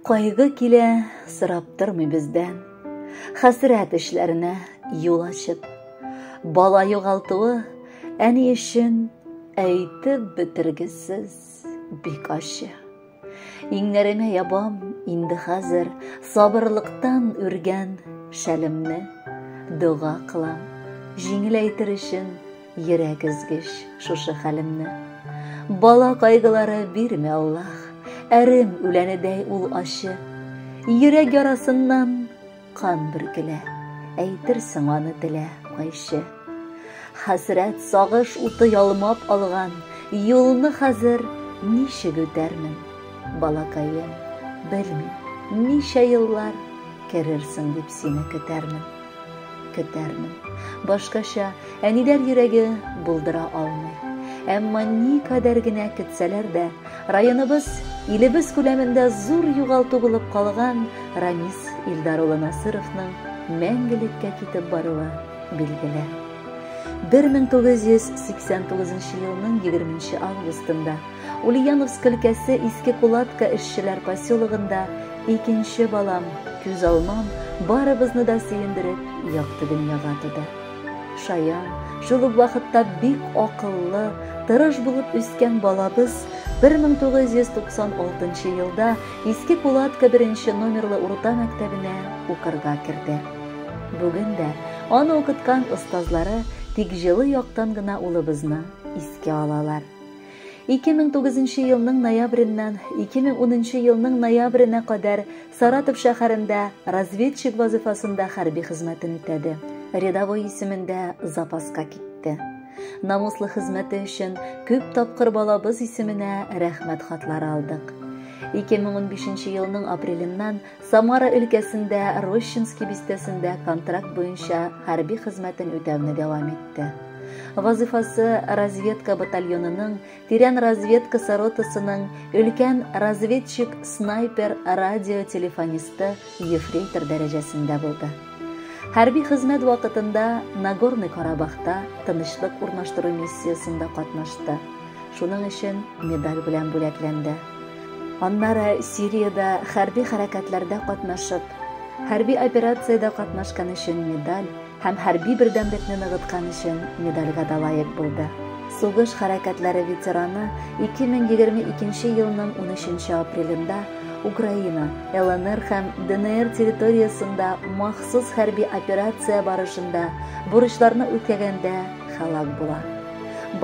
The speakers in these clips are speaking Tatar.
Кайгы килә, сорап тормый бездән. Хәсрәт эшләренә юл ачып, бала югалтуы әни өчен әйтеп бетергесез бик ачы. Иңнәремә ябам инде хәзер сабырлыктан үргән шәлемне, дога кылам, җиңеләйтер өчен йөрәк өзгеч шушы хәлемне. Бала кайгылары бирмә, Аллах, әрем үләнедәй ул ачы. Йөрәк ярасыннан Кан бөркелә, әйтерсең аны телә кайчы. Хәсрәт сагыш уты ялмап алган, юлны хәзер ничек үтәрмен, балакаем, белмим, ничә еллар керерсең дип сине көтәрмен. Көтәрмен. Башкача әниләр йөрәге булдыра алмый. Әмма ни кадәр генә көтсәләр дә, Районыбыз, илебез күләмендә зур югалту булып калган Рамис Илдар улы Насыровның мәңгелеккә китеп баруы билгеле. 1989 елның 20 августында Ульяновск өлкәсе Иске Кулатка эшчеләр поселогында икенче балам, күз алмам, барыбызны да сөендереп, якты дөньяга туды. Шаян, шул ук вакытта бик акыллы, тырыш булып үскән балабыз 1996 елда Иске Кулатка беренче номерлы урта мәктәбенә укырга керде. Бүген дә аны укыткан остазлары тик җылы яктан гына улыбызны искә алалар. 2009 елның ноябреннан 2010 елның ноябренә кадәр Саратов шәһәрендә разведчик вазыйфасында хәрби хезмәтен үтәде. Рядовой исемендә запаска китте. Намуслы хезмәте өчен күп тапкыр балабыз исеменә рәхмәт хатлары алдык. 2015 елның апреленнән Самара өлкәсендә Рощинский бистәсендә контракт буенча хәрби хезмәтен үтәүне дәвам итте. Вазыйфасы разведка батальонының Тирән разведкасы ротасының өлкән разведчик, снайпер, радио телефонисты, ефрейтор дәрәҗәсендә булды. Хәрби хезмәт вакытында Нагорный Карабахта тынычлык урнаштыру миссиясендә катнашты. Шуның өчен медаль белән бүләкләнде. Аннары Сириядә хәрби хәрәкәтләрдә катнашып, хәрби операциядә катнашкан өчен медаль һәм хәрби бердәмлекне ныгыткан өчен медальгә дә лаек булды. Сугыш хәрәкәтләре ветераны 2022 елның 13 апрелендә Украина, ЛНР һәм ДНР территориясендә махсус хәрби операция барышында бурычларны үтәгәндә һәлак була.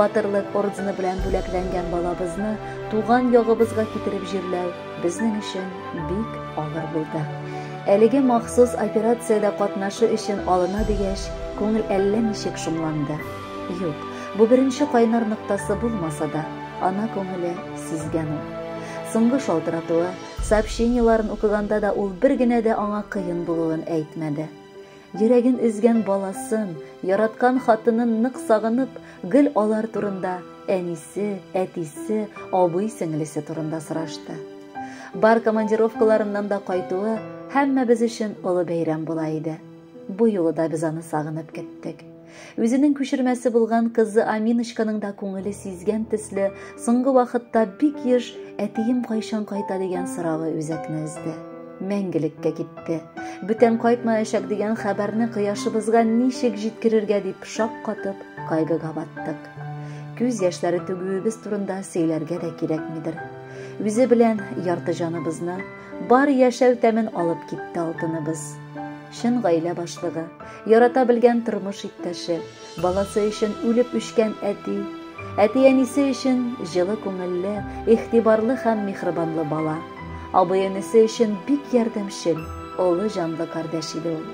Батырлык ордены белән бүләкләнгән балабызны туган ягыбызга китереп җирләү Безнең өчен бик авыр булды. Әлеге махсус операциядә катнашу өчен алына дигәч, күңел әллә ничек шомланды. Юк, бу беренче кайнар ноктасы булмаса да, ана күңеле сизгән ул. Соңгы шалтыратуы, сообщениеларын укыганда да ул бер генә дә аңа кыен булуын әйтмәде. Йөрәген өзгән баласын, яраткан хатынын нык сагынып, гел алар турында, әнисе, әтисе, абый-сеңлесе турында сорашты. Бар командировкаларыннан да кайтуы һәммәбез өчен олы бәйрәм була иде. Бу юлы да без аны сагынып көттек. Үзенең күчермәсе булган кызы Аминочканың да күңеле сизгән төсле, соңгы вакытта бик еш әтием кайчан кайта дигән соравы үзәкне өзде. Мәңгелеккә китте. Бүтән кайтмаячак дигән хәбәрне кояшыбызга ничек җиткерергә дип шаккатып, кайгыга баттык. Күз яшьләре түгүебез турында сөйләргә дә кирәкмидер. Үзе белән ярты җаныбызны, бар яшәү тәмен алып китте алтыныбыз. Чын гаилә башлыгы, Ярата белгән тормыш иптәше, баласы өчен үлеп үчкән әти, әти-әнисе өчен җылы күңелле, ихтибарлы һәм михрибанлы бала, абый-энесе өчен бик ярдәмчел, олы җанлы кардәш иде ул.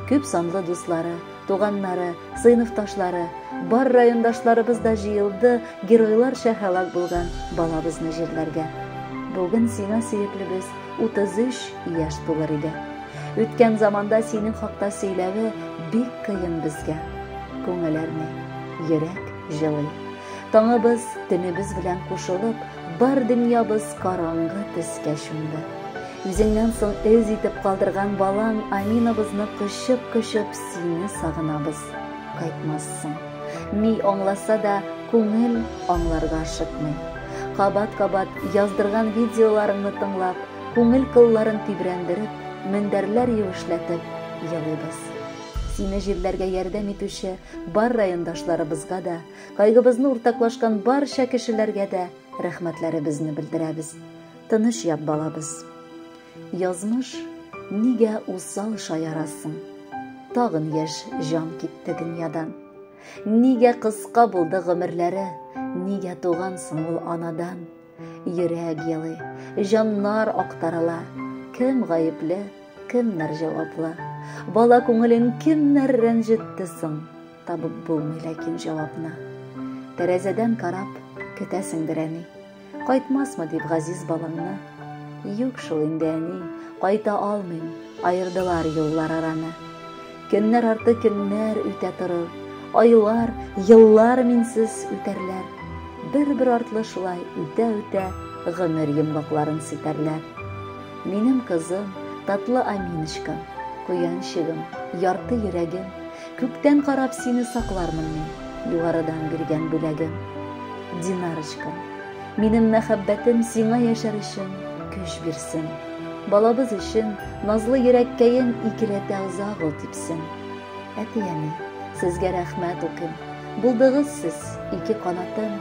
Күп санлы дуслары, туганнары, сыйныфташлары, бар райондашларыбыз да җыелды геройларча һәлак булган балабызны җирләргә. Бүген сиңа, сөеклебез, 33 яшь тулыр иде. Үткән заманда синең хакта сөйләве бик кыен безгә. Күңел әрни, йөрәк җылый. Таңыбыз төнебез белән кушылып, бар дөньябыз караңгы төскә чумды. Үзеңнән соң эз итеп калдырган балаң Аминабызны кочып-кочып сине сагынабыз. Кайтмассың. Ни аңласа да, күңел аңларга ашыкмый. Кабат-кабат яздырган видеоларыңны тыңлап, күңел кылларын тибрәндереп, мендәрләр юешләтеп елыйбыз. Сине җирләргә ярдәм итүче бар райондашларыбызга да, кайгыбызны уртаклашкан барча кешеләргә дә рәхмәтләребезне белдерәбез. Тыныч ят, балабыз. Язмыш, нигә усал шаярасың? Тагын яшь җан китте дөньядан. Нигә кыска булды гомерләре? Нигә тугансың ул анадан? Йөрәк елый, җаннар актарыла. Кем гаепле, кемнәр җаваплы? Бала күңелен кемнәр рәнҗетте соң? Табып булмый ләкин җавапны. Тәрәзәдән карап, көтәсеңдер әни. Кайтмасмы дип газиз балаңны? Юк шул инде, әни, кайта алмыйм, аердылар юллар араны. Көннәр арты көннәр үтә торыр, айлар, еллар минсез үтәрләр. Бер-бер артлы шулай үтә-үтә гомер йомгакларын ситәрләр. Минем кызым, татлы Аминочкам, куянчыгым, ярты йөрәгем, Күктән карап сине саклармын мин, Югарыдан биргән бүләгем. Динарочкам, минем мәхәббәтем Сиңа яшәр өчен көч бирсен. Балабыз өчен назлы йөрәккәен Икеләтә озак ул типсен. Әти-әни, сезгә рәхмәт укыйм, Булдыгыз сез, ике канатым.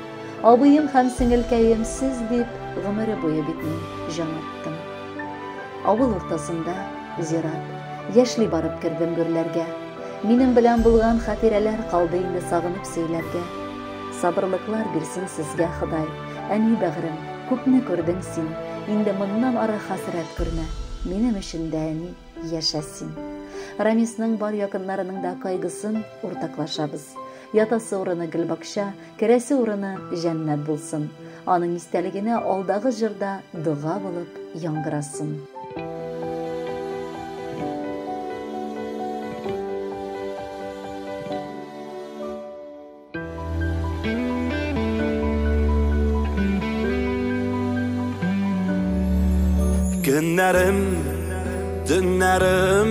Абыем һәм сеңелкәем сез дип, Гомере буе бит мин җан аттым. Авыл уртасында, зират. Яшьли барып кердем гөрләргә. Минем белән булган хатирәләр калды инде сагынып сөйләргә. Сабырлыклар бирсен сезгә Ходай, әни бәгърем, күпне күрдең син, инде моннан ары хәсрәт күрмә, минем өчен дә әни, яшә син. Рамисның бар якыннарының да кайгысын уртаклашабыз. Ятасы урыны гөлбакча, керәсе урыны җәннәт булсын. Аның истәлегенә алдагы җырда дога булып яңгырасын. Көннәрем, төннәрем